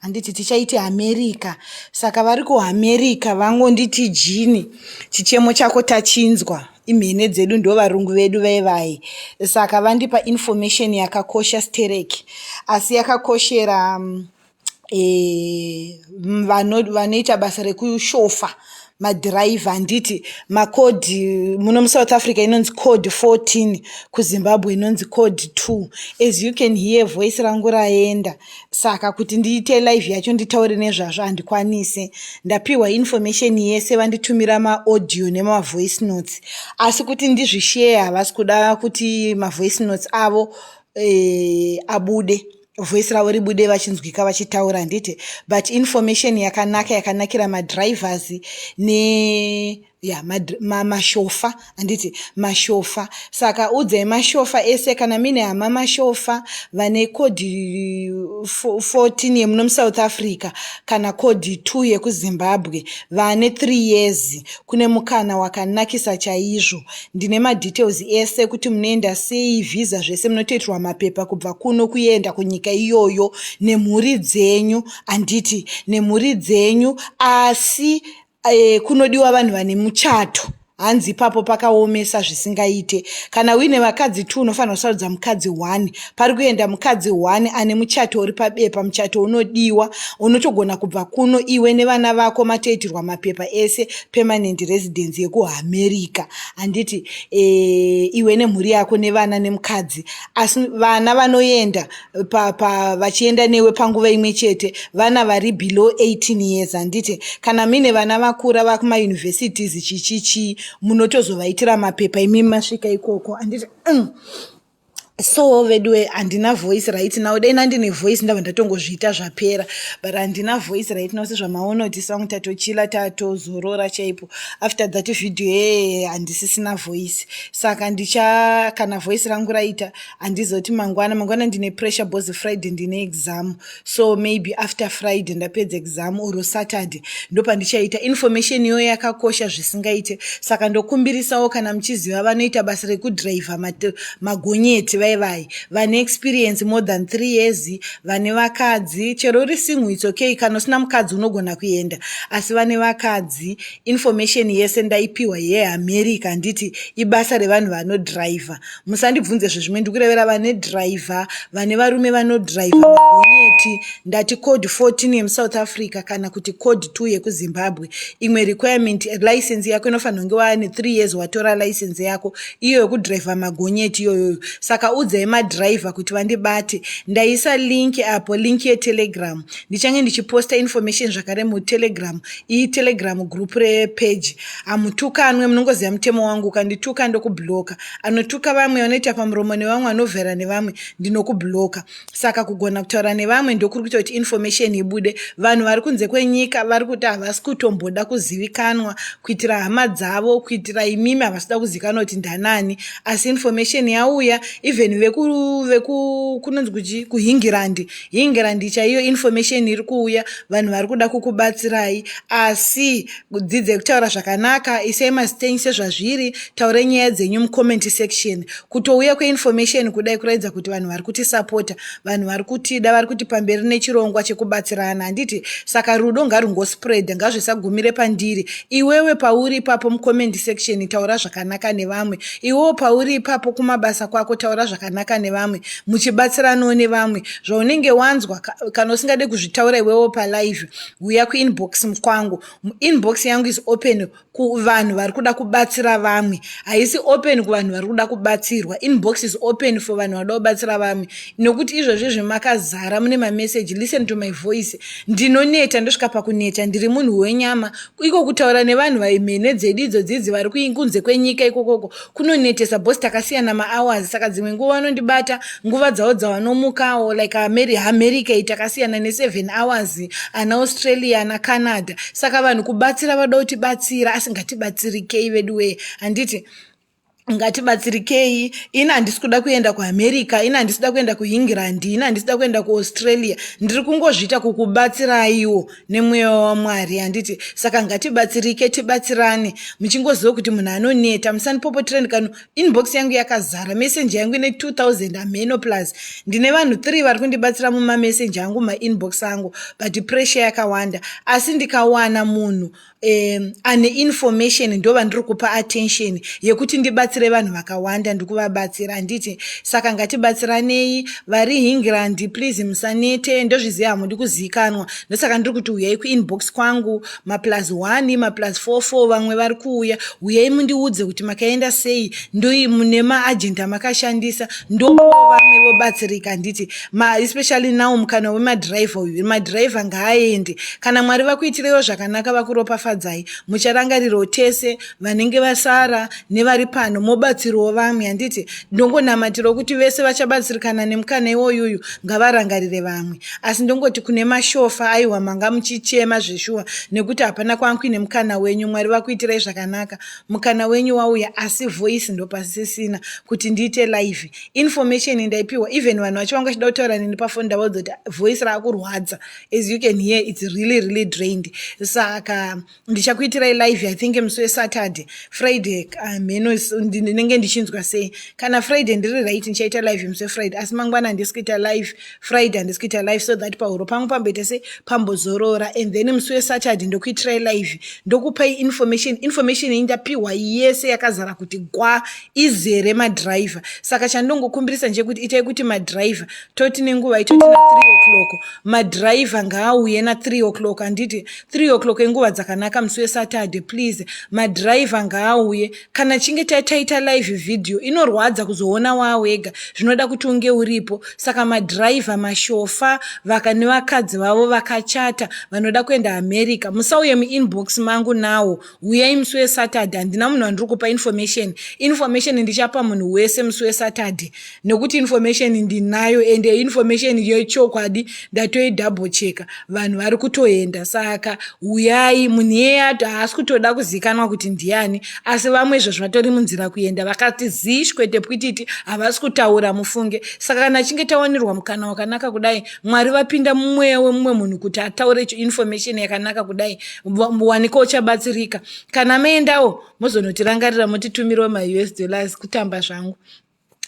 Handiti tichaiti America saka vari kuAmerica vangonditi Jini chichemo chako tachinzwa imhene dzedu ndovarungu vedu vevai saka vandipa information yakakosha sterek asi yakakoshera um, e, vanoita basa rekushofa madhiraivha handiti macode muno musouth africa inonzi code 14 kuzimbabwe inonzi code 2 as you can hear voice rangu raenda saka kuti ndiite live yacho nditaure nezvazvo handikwanise ndapiwa information yese vanditumira maaudio nemavoice notes asi kuti ndizvishare havasi kuda kuti mavoice notes avo e, abude voice ravo ribude vachinzwika vachitaura handiti but information yakanaka yakanakira madrivers ne ya mashofa handiti mashofa saka udzai mashofa ese kana mine hama mashofa vane code 14 yemuno musouth africa kana code 2 yekuzimbabwe vane 3 years kune mukana wakanakisa chaizvo Ndine ma details ese kuti munoenda sei, visa zvese munotoitirwa mapepa kubva kuno kuenda kunyika iyoyo nemhuri dzenyu handiti? Nemhuri dzenyu asi eh, kunodiwa vanhu vane muchato hanzi ipapo pakaomesa zvisingaite kana uine vakadzi two unofanirwa kusarudza mukadzi one pari kuenda mukadzi one ane muchato uri pabepa muchato unodiwa unotogona kubva kuno iwe nevana vako matoitirwa mapepa ese permanent residence yekuamerica handiti e, iwe nemhuri yako nevana nemukadzi asi vana vanoenda pa, pa, vachienda newe panguva imwe chete vana vari below 18 years handiti kana mine vana vakura vakumauniversities chichichii munotozovaitira mapepa imi masvika ikoko handiti mm. so veduwe handina voice right now dai ndandine voice ndava ndatongozviita zvapera but handina voice right now sezvamaona kuti song tatochila tatozorora chaipo after that video yeye handisisina voice saka ndicha kana voice rangu raita handizoti mangwana mangwana ndine pressure bhozi friday ndine exam so maybe after friday ndapedza exam or saturday ndopandichaita information iyoyo yakakosha zvisingaite saka ndokumbirisawo kana muchiziva vanoita basa rekudriver magonyeti vai vai vane experience more than three years vane vakadzi chero uri sinhu its okay kana usina mukadzi unogona kuenda asi vane vakadzi information yese ndaipiwa yeamerica handiti ibasa revanhu vanodriver Musandibvunze zvezvimwe ndikurevera vane driver vane varume vano driver magonyeti ndati code 14 yemusouth africa kana kuti code 2 yekuzimbabwe imwe requirement license yako inofanira kunge waane 3 years watora license yako iyo yekudriver magonyeti iyoyoyo saka udzai madriver kuti vandibate ndaisa link apo link yetelegram ndichange ndichiposta information zvakare mutelegram iyi telegram group repage hamutukanwe munongoziva mutemo wangu ukandituka ndokubloka Anotuka vamwe, anoita pamuromo nevamwe, anovhera nevamwe, ndinokubloka. Saka kugona kutaura nevamwe ndokuri kuita kuti information ibude. Vanhu vari kunze kwenyika vari kuti havasi kutomboda kuzivikanwa kuitira hama dzavo, kuitira imimi havasi kuda kuzivikanwa kuti ndanani. Asi information yauya, even veku, veku kunonzi kuchi kuHingirandi. Hingirandi chaiyo information iri kuuya, vanhu vari kuda kukubatsirai. Asi Dzidzai kutaura zvakanaka, isai mazita enyu sezvazviri, taurai nyaya dzenyu mucomment section. Kutouya kweinformation kudai kuratidza kuti vanhu vari kutisapota, vanhu vari kutida, vari kuti pamberi nechirongwa chekubatsirana, handiti? Saka rudo ngarungospread, ngazvisagumire pandiri. Iwewe pauri ipapo mucomment section taura zvakanaka nevamwe, iwewo pauri ipapo kumabasa kwako taura zvakanaka nevamwe, muchibatsiranawo nevamwe. Zvaunenge wanzwa, kana usingade kuzvitaura iwewo palive, Huya kuinbox mkwangu. Inbox yangu is open kuvanhu vari kuda kubatsira vamwe. Haisi open kuvanhu vari kuda kubatsirwa. Inbox is open for vanhu vanoda kubatsira vamwe. Nokuti izvozvi zvemakazara mune mameseji, listen to my voice. Ndinoneta, ndosvika pakuneta, ndiri munhu wenyama. Iko kutaura nevanhu vaimene dzedu idzo dzidzi vari kunze kwenyika ikokoko. kunonetesa bos takasiyana mahours saka dzimwe nguva vanondibata nguva dzavo dzavanomukawo like ameri america iyi takasiyana neseven hours ana australia ana canada saka vanhu kubatsira vada kutibatsira asi ngatibatsirikei veduwee handiti ngatibatsirikei ini handisi kuda kuenda kuamerica ini handisi kuda kuenda kuengland ini handisi kuda kuenda kuaustralia ndiri kungozviita kukubatsiraiwo nemweya waMwari handiti saka ngatibatsirike tibatsirane muchingoziva kuti munhu anoneta musanipopotireni kano inbox yangu yakazara messenger yangu ine 2000 hameno plus ndine vanhu 3 vari kundibatsira mumamessenger angu mainbox angu but pressure yakawanda asi ndikawana munhu um, ane information ndova ndiri kupa attention yekuti ndibatsire vanhu vakawanda ndikuvabatsira handiti saka ngatibatsiranei vari hingrand please musanete ndozviziva hamudi kuzivikanwa ndosaka ndiri kuti uyai kuinbox kwangu maplus 1 maplus 44 vamwe vari kuuya uyai mundiudze kuti makaenda sei ndoi mune maagenda makashandisa ndokuva vamwe vobatsirika handiti Ma, especially now mukana wemadriver uyu madriver ngaaende kana mwari vakuitirewo zvakanaka vakuropafadzai mucharangarirwo tese vanenge vasara nevari pano mobatsirwo vamwe handiti ndongonamatirwo kuti vese vachabatsirikana nemukana iwoyuyu ngavarangarire vamwe asi ndongoti kune mashofa aiwa manga muchichema zveshuwa nekuti hapana kwankuine mukana wenyu mwari vakuitirai zvakanaka mukana wenyu wauya asi voice ndopasisina kuti ndiite live information ndaipihwa even vanhu vacho vanga vachida kutaura neni pafoni ndavaudzoti voice raakurwadza as you can hear its really really drained saka ndichakuitirai live i think musi wesaturday friday hamheno ah, ndinenge ndichinzwa sei kana friday ndiri right ndichaita live musi wefriday asi mangwana handisi kuita live friday handisi kuita live so that pahuro pangu pamboita se pambozorora and then musi wesaturday ndokuitirai live ndokupai information information iyi ndapiwa yese yakazara kuti gwa izere madriver saka chandongokumbirisa nje kuti itai kuti madriver toti nenguva itoti na 3 o'clock madriver ngaauye na 3 o'clock handiti 3 o'clock inguva dzakanaka musi wesaturday please madriver ngaauye kana chinge taita live video inorwadza kuzoona waawega zvinoda kuti unge uripo saka madhiraivha mashofa vaka nevakadzi vavo vakachata vanoda kuenda america musauye muinbox mangu nawo huyai musi wesaturday handina munhu wandiri kupa information information ndichapa munhu wese musi wesaturday nekuti information ndinayo ende information yechokwadi ndatoidouble checka vanhu vari kutoenda saka huyai munhu iyeye ato haasi kutoda kuzikanwa kuti ndiani asi vamwe izvo zvatori munzira kuenda vakati zish kwete pwititi havasi kutaura mufunge saka kana achinge tawanirwa mukana wakanaka kudai mwari vapinda mumweya wemumwe munhu kuti ataure information yakanaka kudai waniko uchabatsirika kana meendawo mozonotirangarira motitumirawo maus dollars kutamba zvangu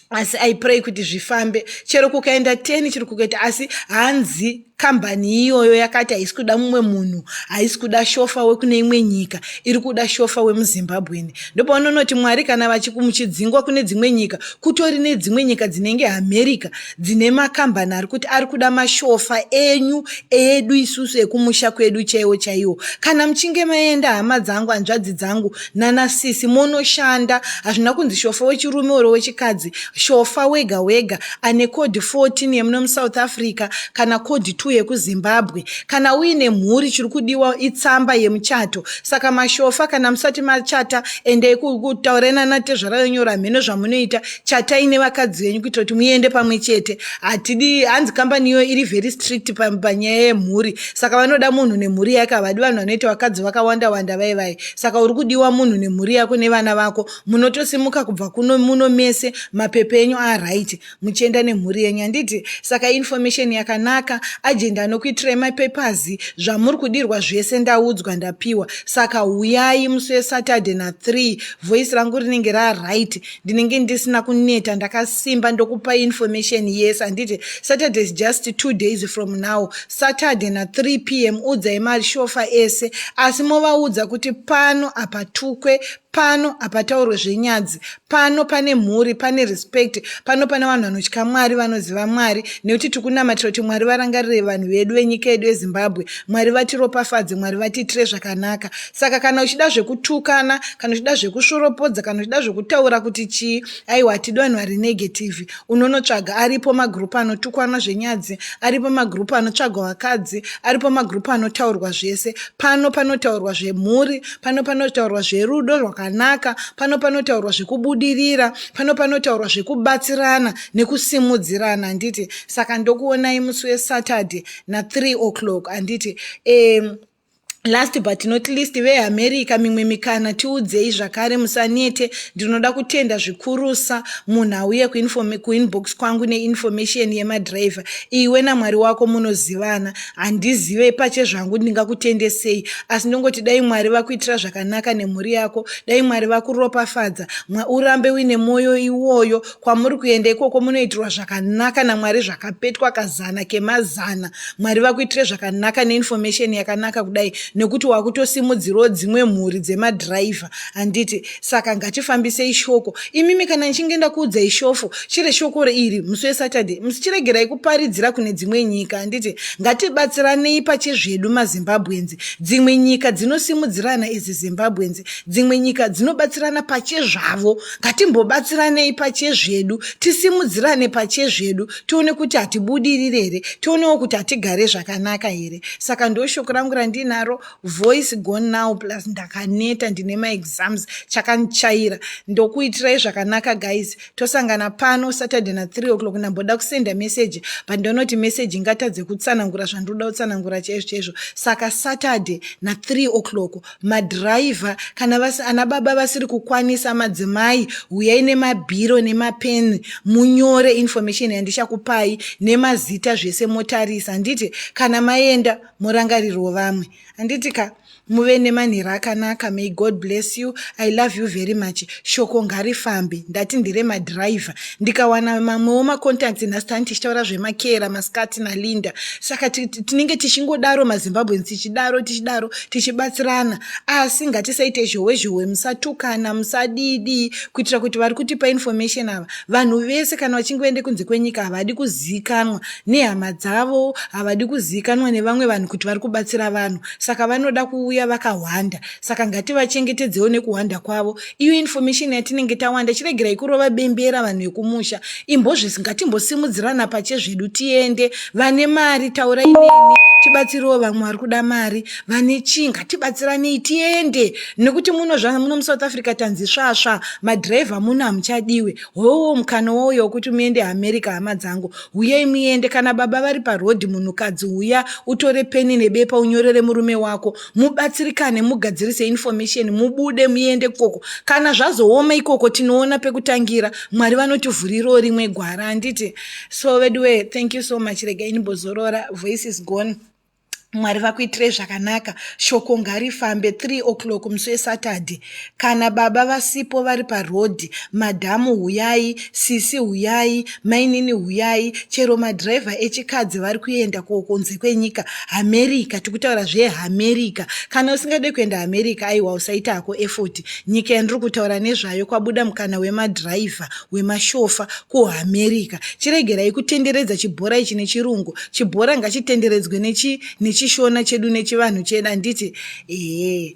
asi i pray kuti zvifambe chero kukaenda teni chiri kukaita asi hanzi kambani iyoyo yakati haisi kuda mumwe munhu haisi kuda shofa wekune imwe nyika iri kuda shofa wemuzimbabweni ndopaunonoti mwari kana vachikumuchidzingwa kune dzimwe nyika kutori nedzimwe nyika dzinenge america dzine makambani ari kuti ari kuda mashofa enyu edu isusu ekumusha kwedu chaiwo chaiwo kana muchinge maenda hama dzangu hanzvadzi dzangu Nana sisi monoshanda hazvina kunzi shofa wechirume or wechikadzi shofa wega wega ane code 14 yemuno musouth africa kana code 2 yekuzimbabwe kana uine mhuri chiri kudiwa itsamba yemuchato saka mashofa kana musati machata endei kutaurai nana tezvara yonyora hameno zvamunoita chatai nevakadzi venyu kuitira kuti muende pamwe chete hatidi hanzi kambani iyo iri very strict panyaya yemhuri saka vanoda munhu nemhuri yake havadi vanhu vanoita vakadzi vakawanda wanda vaivai Saka uri kudiwa munhu nemhuri yako nevana vako munotosimuka kubva kuno muno mese mapepe enyu aright muchienda nemhuri yenyu handiti saka information yakanaka agenda anokuitirai mapapers zvamuri kudirwa zvese ndaudzwa ndapiwa saka huyai musi wesaturday na 3 voice rangu rinenge raright ndinenge ndisina kuneta ndakasimba ndokupai information yese handiti saturday is just two days from now Saturday na 3 pm udzai mashofa ese asi movaudza kuti pano hapatukwe pano hapataurwe zvenyadzi pano pane mhuri pane respect pano pane vanhu vanotya mwari vanoziva mwari nekuti tiri kunamatira kuti mwari varangarire vanhu vedu venyika yedu yezimbabwe mwari vatiropafadze mwari vatiitire zvakanaka saka kana uchida zvekutukana kana uchida zvekusvoropodza kana uchida zvekutaura kuti chii aiwa hatidi vanhu vari negative unonotsvaga aripo magroup anotukwana zvenyadzi aripo magroup anotsvagwa vakadzi aripo magroup anotaurwa zvese pano panotaurwa zvemhuri pano panotaurwa zverudo rwakanaka pano panotaurwa zvekubudirira pano panotaurwa zvekubatsirana nekusimudzirana handiti saka ndokuonai musi wesaturday na3 o'clock handiti um, Last but not least, veAmerica mimwe mikana tiudzei zvakare musanete. Ndinoda kutenda zvikurusa munhu auye kuinbox kwangu neinformation yemadriver. Iwe naMwari wako munozivana. Handizive pache zvangu ndingakutende sei asi ndongoti dai Mwari vakuitira zvakanaka nemhuri yako. Dai Mwari vakuropafadza. Mwa urambe uine moyo iwoyo. kwamuri kuenda ikoko munoitirwa zvakanaka namwari zvakapetwa kazana kemazana mwari vakuitire zvakanaka neinformation yakanaka kudai nekuti wakutosimudzirawo dzimwe mhuri dzemadhiraivha handiti saka ngatifambisei shoko imimi kana ndichinge ndakuudzai shofo chiri shoko reiri musi wesaturday musichiregerai kuparidzira kune dzimwe nyika handiti ngatibatsiranei pachezvedu mazimbabwenzi dzimwe nyika dzinosimudzirana izi zimbabwenzi dzimwe nyika dzinobatsirana pachezvavo ngatimbobatsiranei pachezvedu tisimudzirane pachezvedu tione kuti hatibudirire here tionewo kuti hatigare zvakanaka here saka ndo shoko rangu randinaro voice gone now plus ndakaneta ndine maexams chakandichaira ndokuitirai zvakanaka guys tosangana pano saturday na 3 o'clock ndamboda kusenda meseji but ndonoti meseji ingatadze kutsanangura zvandoda kutsanangura chaizvo chaizvo saka saturday na 3 o'clock madhiraivha kana vasi, ana baba vasiri kukwanisa madzimai huyai nemabhiro nemapeni munyore information yandichakupai nemazita zvese motarisa handiti kana maenda morangarirwo vamwe handiti ka muve nemanhira akanaka may god bless you i love you very much Shoko ngarifambe ndati ndire madriver ndikawana mamwewo macontacts nhasi tani tichitaura zvemakera mascati nalinda saka tinenge tichingodaro mazimbabweans tichidaro tichidaro tichibatsirana asi ngatisaite zhowe zhowe musatukana musadidii kuitira kuti vari kutipa information ava vanhu vese kana vachinge vaende kunze kwenyika havadi kuzivikanwa nehama dzavo havadi kuzivikanwa nevamwe vanhu kuti vari kubatsira vanhu saka vanoda kuuya vakahwanda saka ngativachengetedzewo nekuhwanda kwavo iyo information yatinenge tawanda chiregerai kurova bembera vanhu vekumusha imbozvisi ngatimbosimudzirana pache zvedu tiende vane mari taura ineni tibatsirewo vamwe vari kuda mari vane chii ngatibatsiranei tiende nekuti muno zva muno musouth africa tanzi svasva madhiraivha muno hamuchadiwe howo mukana wouya wokuti muende america hama dzangu huyei muende kana baba vari parhodhi munhukadzi huya utore peni nebepa unyorere murume wako mubatsirikane mugadzirise information mubude muende koko kana zvazooma ikoko tinoona pekutangira mwari vanotivhurirawo rimwe gwara handiti so veduwee thank you so much rega inibozorora voice is gone mwari vakuitirei zvakanaka shoko ngarifambe 3 o'clock musi wesaturday Kana baba vasipo vari paroad madhamu huyai, sisi huyai, mainini huyai, chero madriver echikadzi vari kuenda ko kunze kwenyika America tikutaura zve America kana usingade kuenda America aiwa usaita hako effort nyika yandiri kutaura nezvayo kwabuda mukana wemadriver wemashofa ku America chiregerai kutenderedza chibhora ichi nechirungu chibhora ngachitenderedzwe nechi nechishona chedu nechivanhu chedu handiti ehe